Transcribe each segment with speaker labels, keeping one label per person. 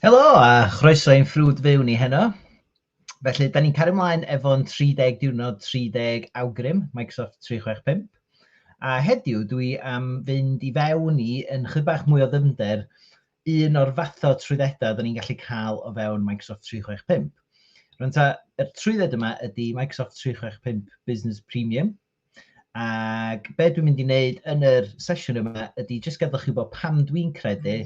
Speaker 1: Helo a chroeso i'n ffrwd fyw ni heno. Felly, da ni'n cario ymlaen efo'n 30 diwrnod 30 awgrym Microsoft 365. A heddiw dwi am fynd i fewn i yn chydig bach mwy o ddyfnder un o'r fath o trwyddedau da ni'n gallu cael o fewn Microsoft 365. Rwy'n ta, y trwydded yma ydy Microsoft 365 Business Premium, Ac be dwi'n mynd i wneud yn yr sesiwn yma ydy jyst gadw chi bod pam dwi'n credu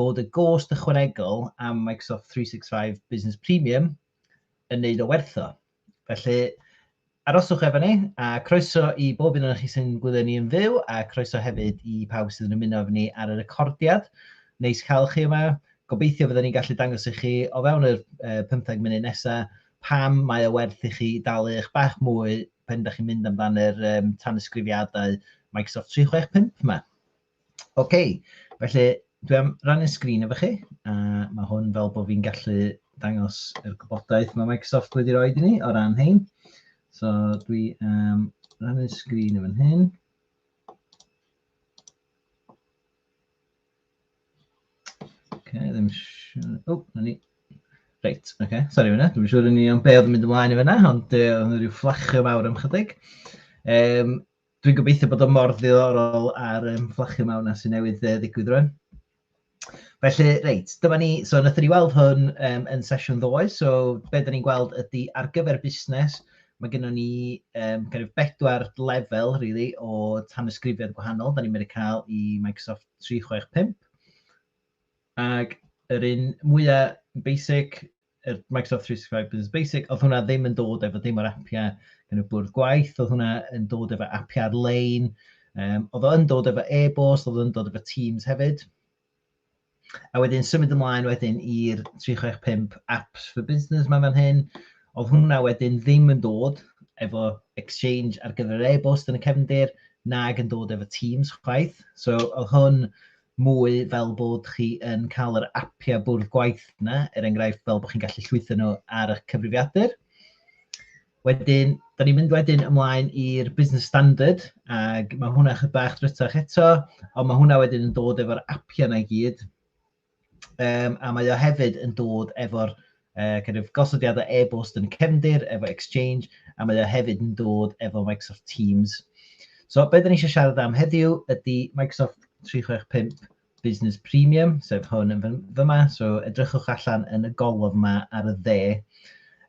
Speaker 1: bod y gost ychwanegol am Microsoft 365 Business Premium yn neud o werth o. Felly, aroswch efo ni, a croeso i bob un o'n chi sy'n gwylio ni yn fyw, a croeso hefyd i pawb sydd yn ymuno efo ni ar y recordiad. Neis cael chi yma. Gobeithio fydden ni'n gallu dangos i chi o fewn y 15 munud nesaf pam mae o werth i chi dalu eich bach mwy pan dach chi'n mynd amdan yr um, tanysgrifiadau Microsoft 365 yma. OK, felly dwi am rannu'n sgrin efo chi, a mae hwn fel bod fi'n gallu dangos yr gwybodaeth mae Microsoft wedi rhoi i ni o ran hyn. So dwi am rannu'n sgrin efo hyn. Ok, ddim siŵr... O, 'na ni. Reit, ok, sori am hynna. Dwi'm yn siŵr yn union be oedd yn mynd ymlaen yn fanna, ond yy oedd 'na ryw fflachio mawr am chydig. Yym, dwi'n gobeithio bod o mor ddiddorol a'r yym, fflachio mawr 'na sy'n newydd yy, ddigwydd rwan. Felly, reit, dyma ni, so wnaethon ni weld hwn um, yn sesiwn ddoe, so be da ni'n gweld ydy ar gyfer busnes, Mae gennym ni um, kind of bedwar lefel really, o tanysgrifiad gwahanol. Da ni'n mynd i cael i Microsoft 365. Ac yr un mwyaf basic, yr Microsoft 365 Business Basic, oedd hwnna ddim yn dod efo dim o'r appiau yn y bwrdd gwaith, oedd hwnna yn dod efo appiau ar-lein, um, oedd o'n dod efo e-bost, oedd o'n dod efo Teams hefyd. A wedyn symud ymlaen wedyn i'r 365 apps for business mae'n fan hyn. Oedd hwnna wedyn ddim yn dod efo Exchange ar gyfer yr e-bost yn y cefndir, nag yn dod efo Teams chwaith. So oedd hwn mwy fel bod chi yn cael yr appiau bwrdd gwaith yna, er enghraifft fel bod chi'n gallu llwytho nhw ar y cyfrifiadur. Wedyn, da ni'n mynd wedyn ymlaen i'r Business Standard, ac mae hwnna chydig bach drytach eto, ond mae hwnna wedyn yn dod efo'r apiau yna i gyd. Um, a mae o hefyd yn dod efo'r uh, kind of gosodiadau e-bost yn cefndir, efo Exchange, a mae o hefyd yn dod efo Microsoft Teams. So, beth da ni eisiau siarad am heddiw ydy Microsoft 365 Business Premium, sef hwn yn fyma, so edrychwch allan yn y golwg yma ar y dde.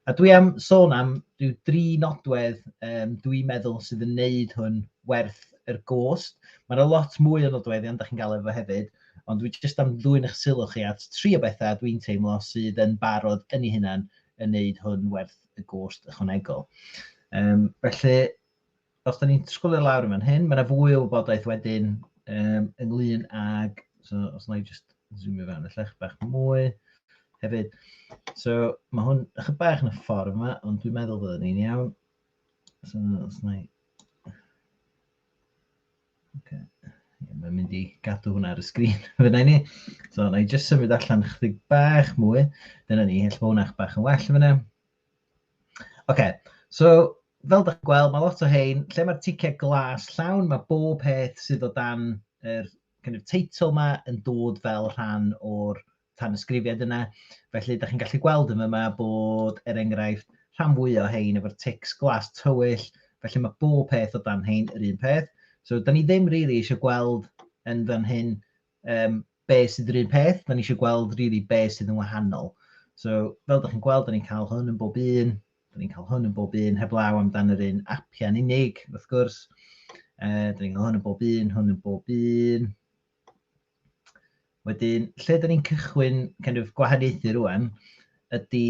Speaker 1: A dwi am sôn am rhyw dri nodwedd um, dwi'n meddwl sydd yn neud hwn werth yr gost. Mae yna lot mwy o nodweddion, da chi'n gael efo hefyd, ond dwi jyst am ddwy'n eich sylw chi at tri o bethau dwi'n teimlo sydd yn barod yn ei hunan yn neud hwn werth y gost ychwanegol. Um, felly, os da ni'n sgwlio lawr yn fan hyn, mae yna fwy o wybodaeth wedyn um, ynglyn ag, so, os na i just zoomio fewn y llech bach mwy hefyd. So mae hwn eich bach yn y ffordd yma, ond dwi'n meddwl bod ni'n iawn. So os na i... Okay. Mae'n mynd i gadw hwnna ar y sgrin fyna ni. So na i just symud allan chydig bach mwy. Dyna ni, hell bod hwnna bach yn well fyna. Oce, so fel dach chi'n gweld, mae lot o hein, lle mae'r ticed glas llawn, mae bob peth sydd o dan yr kind of, teitl yma yn dod fel rhan o'r tanysgrifiad yna. Felly, da chi'n gallu gweld yma yma bod, er enghraifft, rhan fwy o hein efo'r tics glas tywyll, felly mae bob peth o dan hein yr un peth. So, da ni ddim rili really eisiau gweld yn fan hyn um, be sydd yr un peth, da ni eisiau gweld really be sydd yn wahanol. So, fel da chi'n gweld, da ni'n cael hwn yn bob un, da ni'n cael hwn yn bob un, heb law amdan yr un apiau'n unig, wrth gwrs. Uh, da ni'n cael hwn yn bob un, hwn yn bob un. Wedyn, lle da ni'n cychwyn kind of, gwahaniaethu rwan, ydy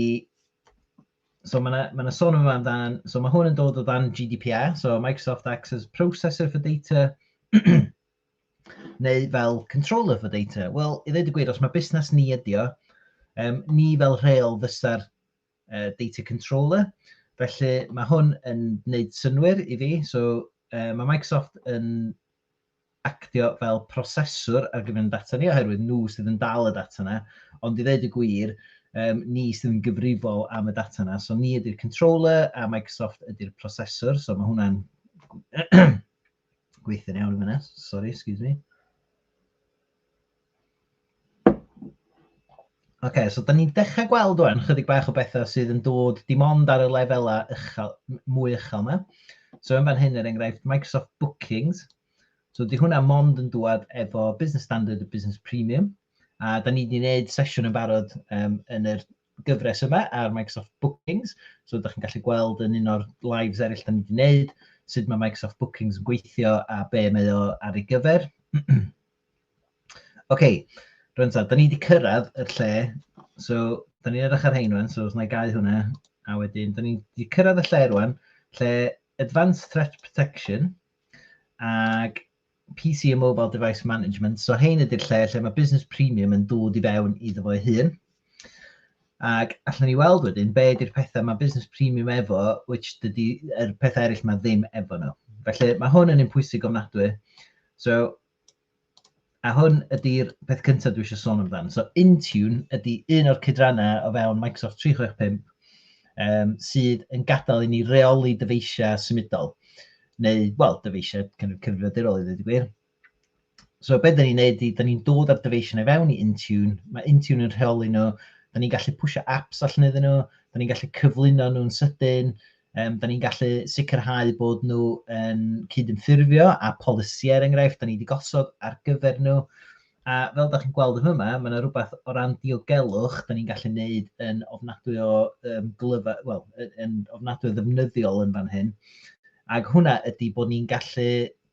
Speaker 1: So mae yna ma sôn yma amdan, so mae hwn yn dod o dan GDPR, so Microsoft Access Processor for Data, neu fel controller for data? Wel, i ddweud y gwir, os mae busnes ni ydi o, um, ni fel rheol fysa'r uh, data controller, felly mae hwn yn gwneud synwyr i fi, so uh, mae Microsoft yn actio fel proseswr ar gyfer data ni, oherwydd nhw sydd yn dal y data yna, ond i ddweud y gwir, um, ni sydd yn gyfrifol am y data yna, so ni ydy'r controller a Microsoft ydy'r proseswr, so mae hwnna'n Gweithio'n iawn yn fyna, sorry, excuse me. Oce, okay, so da ni'n dechrau gweld o'n chydig bach o bethau sydd yn dod dim ond ar y lefelau uchel, mwy uchel yma. So yn fan hyn, er enghraifft, Microsoft Bookings. So di hwnna mond yn dwad efo Business Standard a Business Premium. A da ni wedi gwneud sesiwn yn barod um, yn yr gyfres yma ar Microsoft Bookings. So ydych chi'n gallu gweld yn un o'r lives eraill da ni wedi gwneud, sut mae Microsoft Bookings yn gweithio a be mae o ar ei gyfer. OK, rwy'n ta, da ni wedi cyrraedd y lle, so da ni'n edrych ar hein rwan, so os na i gau hwnna, a wedyn, da ni wedi cyrraedd y lle rwan, lle Advanced Threat Protection, ac PC a Mobile Device Management. So hein ydy'r lle lle mae Business Premium yn dod i fewn iddo fo'i hun. Ac allan ni weld wedyn, be ydy'r pethau mae Business Premium efo, which dydy er pethau eraill mae ddim efo nhw. Felly mae hwn yn un pwysig ofnadwy. So, a hwn ydy'r peth cyntaf dwi eisiau sôn amdano. So, Intune ydy un o'r cydrannau o fewn Microsoft 365 um, sydd yn gadael i ni reoli dyfeisiau symudol. neu, wel, dyfeisiau kind of cyfrifiadurol i ddweud y gwir. So beth dyn ni'n neud i, dyn ni'n dod â'r dyfeisiau i fewn i Intune, mae Intune yn rheoli nhw, dyn ni'n gallu pwysio apps allan iddyn nhw, dyn ni'n gallu cyflwyno nhw'n sydyn, um, dyn ni'n gallu sicrhau bod nhw yn cydymffurfio a polisïau er enghraifft, dyn ni wedi gosod ar gyfer nhw, A fel da chi'n gweld yn fyma, mae yna rhywbeth o ran diogelwch da ni'n gallu gwneud yn ofnadwy o um, glyfa, wel, yn ofnadwy o ddefnyddiol yn fan hyn. Ac hwnna ydy bod ni'n gallu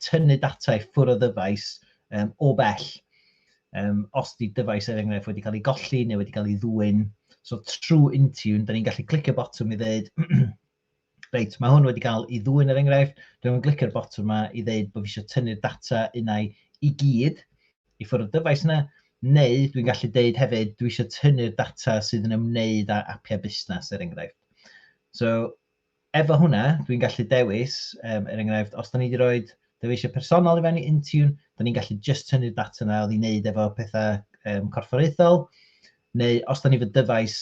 Speaker 1: tynnu data i ffwrdd o ddyfais um, o bell. Um, os di dyfais er enghraifft wedi cael ei golli neu wedi cael ei ddwyn, so trwy Intune, da ni'n gallu clicio botwm i ddweud, Reit, mae hwn wedi cael ei ddwyn er enghraifft. Dwi'n mynd glicio'r botwm yma i ddeud bod fi eisiau tynnu'r data unau i gyd i ffwrdd y dyfais yna, neu dwi'n gallu deud hefyd dwi eisiau tynnu'r data sydd yn ymwneud â apiau busnes er enghraifft. So, efo hwnna, dwi'n gallu dewis, um, er enghraifft, os da ni wedi rhoi dyfeisiau personol i fewn i Intune, da ni'n gallu just tynnu'r data yna oedd i wneud efo pethau um, corfforaethol, neu os da ni fy dyfais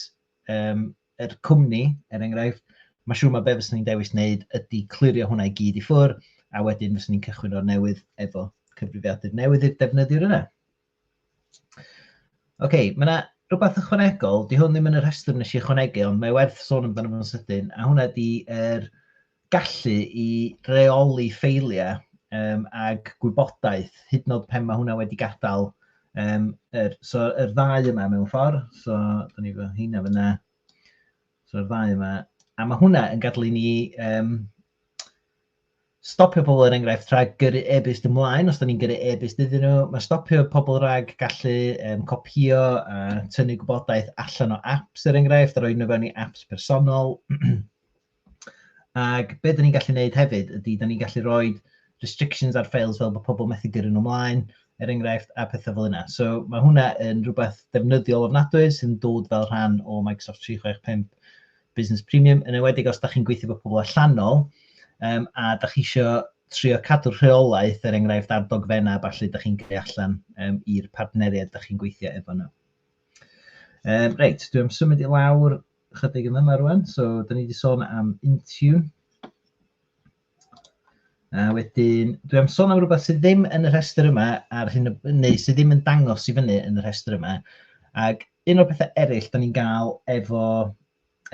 Speaker 1: um, yr cwmni, er enghraifft, mae'n siŵr mae be fyswn ni'n dewis wneud ydy clirio hwnna i gyd i ffwrdd, a wedyn fyswn ni'n cychwyn o'r newydd efo cyfrifiadur newydd i'r defnyddiwr yna. OK, mae yna rhywbeth ychwanegol, di hwn ddim yn y rhestr nes i ychwanegu, ond mae werth sôn amdano fo'n sydyn, a hwnna di yr er gallu i reoli ffeiliau um, ag gwybodaeth, hyd yn oed pen mae hwnna wedi gadael. Um, er, so, yr er ddau yma mewn ffordd, so, da ni fod hynna fyna. So, yr er ddau yma. A mae hwnna yn gadlu ni um, stopio pobl er enghraifft rhag gyrru e-byst ymlaen os da ni'n gyrru e-byst iddyn nhw. Mae stopio pobl rhag gallu um, copio a tynnu gwybodaeth allan o apps er enghraifft a roi nhw fewn i apps personol. Ac be dyn ni'n gallu neud hefyd ydy, dyn ni'n gallu rhoi restrictions ar files fel bod pobl methu gyrru nhw ymlaen, er enghraifft, a pethau fel yna. So mae hwnna yn rhywbeth defnyddiol ofnadwy sy'n dod fel rhan o Microsoft 365 Business Premium, yn enwedig os da chi'n gweithio bod pobl allanol, um, a da chi eisiau trio cadw'r rheolaeth, er enghraifft, ar dogfennau, falle da chi'n gyrru allan um, i'r partneriaid da chi'n gweithio efo nhw. Um, reit, dwi'n symud i lawr ychydig yn yna rwan. So, da ni wedi sôn am Intune. A wedyn, dwi am sôn am rhywbeth sydd ddim yn y rhestr yma, ar hyn, neu sydd ddim yn dangos i fyny yn y rhestr yma. Ac un o'r pethau eraill da ni'n gael efo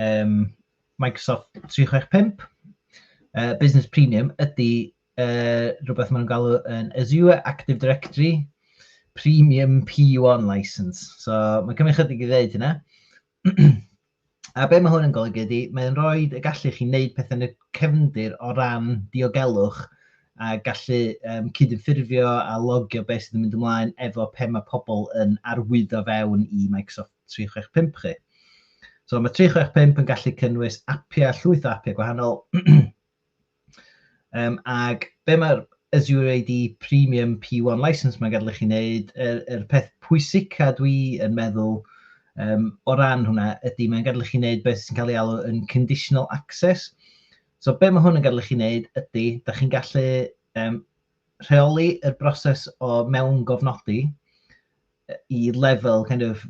Speaker 1: um, Microsoft 365, uh, Business Premium, ydy uh, rhywbeth maen nhw'n galw yn Azure Active Directory Premium P1 License. So, mae'n cymryd chydig i ddeud hynna. a be mae hwn yn golygu ydy, mae'n rhoi y gallu chi wneud pethau yn y cefndir o ran diogelwch a gallu um, cydymffurfio a logio beth sydd yn mynd ymlaen efo pe mae pobl yn arwyddo fewn i Microsoft 365 chi. So mae 365 yn gallu cynnwys apiau, llwyth o apiau gwahanol, Um, ac be mae'r Azure AD Premium P1 License mae'n gadael i chi wneud, y, er, er peth pwysica dwi yn meddwl um, o ran hwnna ydy mae'n gadael i chi wneud beth sy'n cael ei alw yn conditional access. So be mae hwn yn gadael i chi wneud ydy, da chi'n gallu um, rheoli y broses o mewn gofnodi i lefel kind of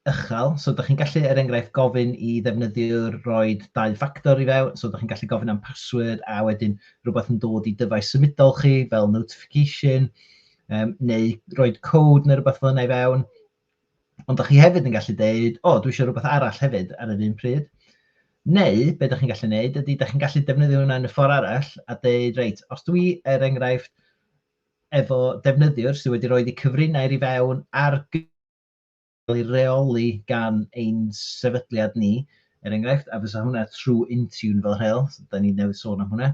Speaker 1: uchel. So dych chi'n gallu, er enghraifft, gofyn i ddefnyddiwr roi dau ffactor i fewn. So dych chi'n gallu gofyn am password a wedyn rhywbeth yn dod i dyfais symudol chi fel notification um, neu roi code neu rhywbeth fel yna i fewn. Ond dych chi hefyd yn gallu dweud, o, oh, dwi eisiau rhywbeth arall hefyd ar yr un pryd. Neu, be dych chi'n gallu gwneud ydy, dych chi'n gallu defnyddio hwnna yn y ffordd arall a dweud, reit, os dwi er enghraifft efo defnyddiwr sydd wedi rhoi cyfrinau i fewn ar cael ei reoli gan ein sefydliad ni, er enghraifft, a fysa hwnna trwy Intune fel rheol, so da ni newydd sôn am hwnna.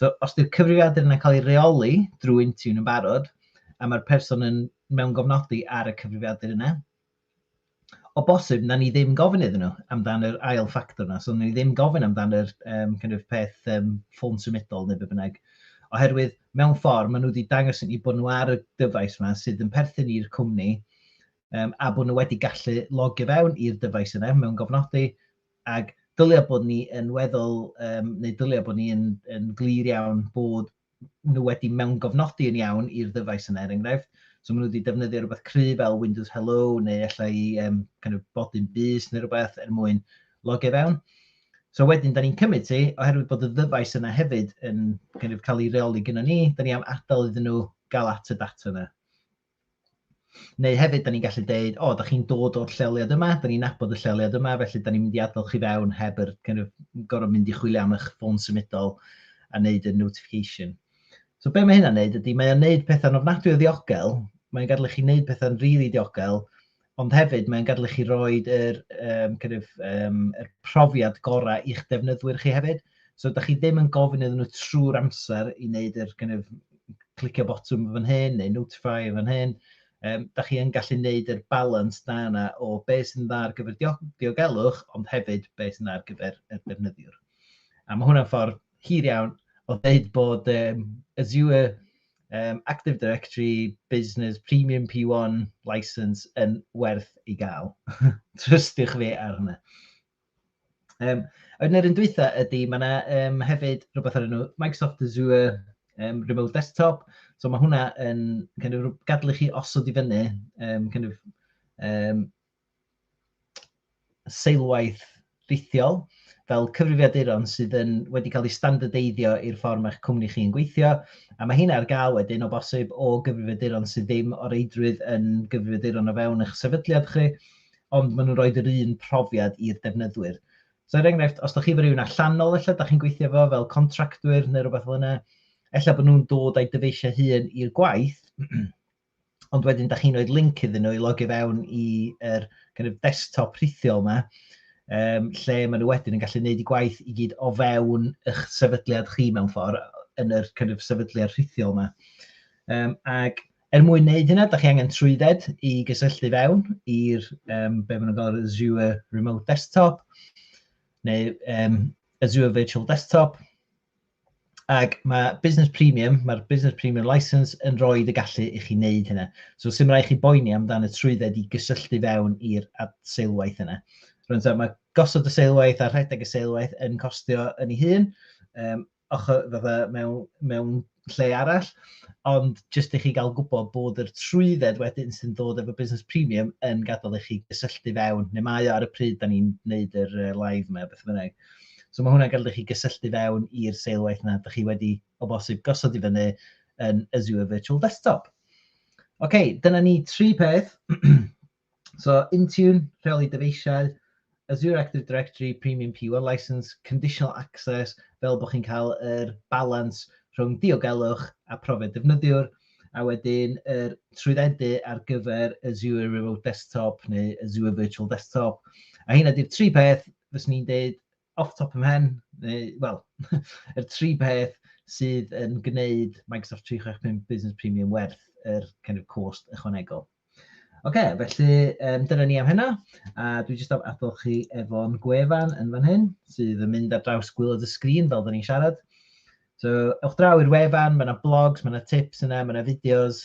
Speaker 1: So, os di'r cyfrifiadur yna'n cael ei reoli drwy Intune yn barod, a mae'r person yn mewn gofnodi ar y cyfrifiadur yna, o bosib, na ni ddim gofyn iddyn nhw amdan yr ail ffactor yna. So, na ni ddim gofyn amdan yr um, kind of peth um, ffôn symudol neu be bynnag. Oherwydd, mewn ffordd, maen nhw wedi dangos i ni bod nhw ar y dyfais yma sydd yn perthyn i'r cwmni, um, a bod nhw wedi gallu logio fewn i'r dyfais yna mewn gofnodi, ac dylia bod ni yn weddol, um, neu dylia bod ni yn, yn glir iawn bod nhw wedi mewn gofnodi yn iawn i'r ddyfais yna, er enghraifft. So maen nhw wedi defnyddio rhywbeth cry fel Windows Hello neu allai um, kind of bodyn bus neu rhywbeth er mwyn logio fewn. So wedyn, da ni'n cymryd ti, oherwydd bod y ddyfais yna hefyd yn kind of, cael ei reoli gyda ni, da ni am adael iddyn nhw gael at y data yna. Neu hefyd, da ni'n gallu dweud, o, da chi'n dod o'r lleoliad yma, da ni'n nabod y lleoliad yma, felly da ni'n mynd i adael chi fewn heb yr kind of, gorfod mynd i chwilio am eich ffôn symudol a wneud y notification. So be mae hynna'n neud ydy, mae o'n neud pethau'n ofnadwy o ddiogel, mae'n gadw chi wneud pethau'n rili really diogel, ond hefyd mae'n gadael i chi roi yr, um, kind of, um, yr profiad gorau i'ch defnyddwyr chi hefyd. So, da chi ddim yn gofyn iddyn nhw trwy'r amser i wneud yr kind of, clicio botwm fan hyn neu notify fan hyn. Um, da chi yn gallu wneud yr balans da yna o be sy'n dda ar gyfer diogelwch, ond hefyd be sy'n dda ar gyfer y defnyddiwr. A mae hwnna'n ffordd hir iawn o ddeud bod um, Azure um, Active Directory Business Premium P1 license yn werth i gael. Trystiwch fi ar hwnna. Um, Yn yr un dwytha ydy, mae yna um, hefyd rhywbeth ar enw Microsoft Azure um, Remote Desktop. So mae hwnna yn kind of, gadlu chi osod i fyny um, kind of, um, seilwaith rhithiol fel cyfrifiaduron sydd yn wedi cael eu standardeiddio i'r ffordd mae'ch cwmni chi yn gweithio, a mae heina ar gael wedyn o bosib o gyfrifiaduron sydd ddim o reidrwydd yn gyfrifiaduron o fewn eich sefydliad chi, ond maen nhw'n rhoid yr un profiad i'r defnyddwyr. So er enghraifft, os da chi efo rhywun allanol ella da chi'n gweithio efo fel contractwyr neu rhywbeth fel yna, ella bod nhw'n dod â'i dyfeisiau hun i'r gwaith, ond wedyn da chi'n rhoi link iddyn nhw i logio fewn i'r kind of desktop rhithiol yma, um, lle maen nhw wedyn yn gallu gwneud y gwaith i gyd o fewn eich sefydliad chi mewn ffordd, yn yr kind of sefydliad rhithiol yma. Um, ac er mwyn wneud hynna, da chi angen trwydded i gysylltu fewn i'r, um, be maen nhw'n gael, Azure Remote Desktop, neu um, Azure Virtual Desktop, Ac mae Business Premium, mae'r Business Premium License yn rhoi y gallu i chi wneud hynna. So sy'n rhaid chi boeni amdano trwydded i gysylltu fewn i'r seilwaith yna. Rwy'n dweud, mae gosod y seilwaith a rhedeg y seilwaith yn costio yn ei hun, um, ochr fatha mewn, mewn lle arall, ond jyst i chi gael gwybod bod yr trwydded wedyn sy'n dod efo Business Premium yn gadael i chi gysylltu fewn, neu mae o ar y pryd da ni'n gwneud yr live yma, beth bynnag. So mae hwnna'n gallu chi gysylltu fewn i'r seilwaith yna, ydych chi wedi o bosib gosod i fyny yn Azure Virtual Desktop. Oce, okay, dyna ni tri peth. so Intune, rheoli dyfeisiau, Azure Active Directory Premium P1 License, Conditional Access, fel bod chi'n cael yr er balans rhwng diogelwch a profiad defnyddiwr, a wedyn yr er trwyddedu ar gyfer Azure Remote Desktop neu Azure Virtual Desktop. A hyn ydy'r tri peth fyswn i'n deud off top of mhen, neu wel yr tri peth sydd yn gwneud Microsoft 365 Business Premium werth yr kind of cost ychwanegol. Oce, okay, felly um, dyna ni am hynna. A dwi jyst am adol chi efo'n gwefan yn fan hyn, sydd yn mynd ar draws gwylod y sgrin fel da ni'n siarad. So, ewch draw i'r wefan, mae yna blogs, mae yna tips yna, mae yna fideos,